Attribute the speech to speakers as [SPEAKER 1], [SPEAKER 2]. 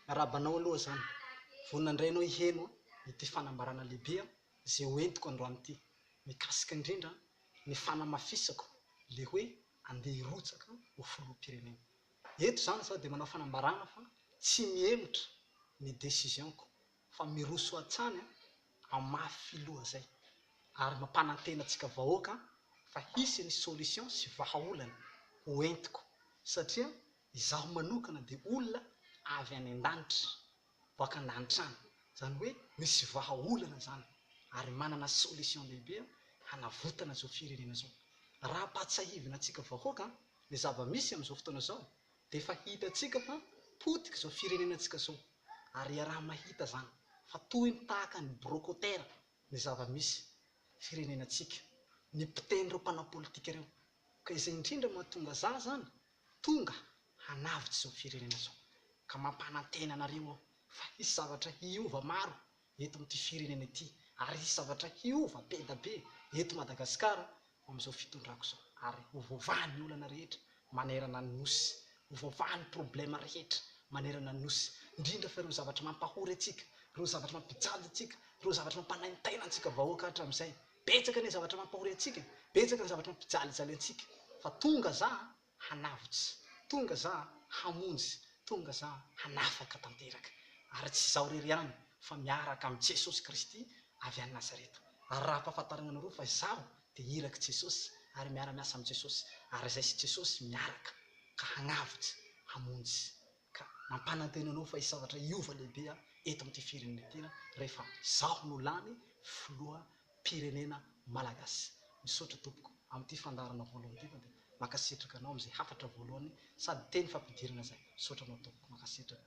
[SPEAKER 1] Miarahaba anao aloha zany. Vonona indray ianao hiheno ity fanambarana lehibe izay ho entiko androany ity, mikasika indrindra ny fanamafisako ilay hoe andeha hirotsaka ho filoham-pirenena. Eto izany izaho dia manao fanambarana fa tsy mihemotra ny décision-ko fa miroso hatrany hamafy filoha izay ary mampanantena antsika vahoaka fa hisy ny solution sy vahaolana ho entiko satria Izaho manokana dia olona avy any an-danitra, boaka an-danitra any, izany hoe misy vahaolana izany ary manana solution lehibe aho hanavotana izao firenena izao. Raha ampahatsiahivina antsika vahoaka ny zava-misy amin'izao fotoana izao dia efa hitantsika fa potika izao firenena antsika izao ary iaraha-mahita izany fa toy ny tahaka ny brocotera ny zava-misy firenena antsika ny mpiteny ireo mpanao politika ireo ka izay indrindra mahatonga zah izany Tonga hanavotra izao firenena izao ka mampanantena anareo aho fa hisy zavatra hiova maro eto amin'ity firenena ity ary hisy zavatra hiova be dia be eto Madagasikara amin'izao fitondrako izao ary ho voavaha ny olana rehetra manerana ny Nosy, ho voavaha ny problème rehetra manerana ny Nosy indrindra fa ireo zavatra mampahory antsika, ireo zavatra mampijajy antsika, ireo zavatra mampanaintaina antsika vahoaka hatramin'izay. Betsaka ny zavatra mampahory antsika, betsaka ny zavatra mampijalijaly antsika, fa tonga za hanavotsy, tonga za hamonjy, tonga za hanafaka tanteraka. Ary tsy izaho irery ihany, fa miaraka amin'i Jesosy Kristy avy any Nazareta. Ary raha ampahafantarina anareo fa izaho dia irak'i Jesosy, ary miara-miasa amin'i Jesosy, ary izay sy Jesosy miaraka, ka hagnavotsy, hamonjy. Ka mampanantena anao fa hisy zavatra hiova lehibe eto amin'ity firenena ity rehefa izaho no lany filoham-pirenena malagasy. Misaotra tompoko amin'ity fandaharana voalohany ity fa dia mankasitraka anao amin'izay hafatra voalohany sady teny fampidirana izay. Misaotra anao tompoko. Mankasitraka.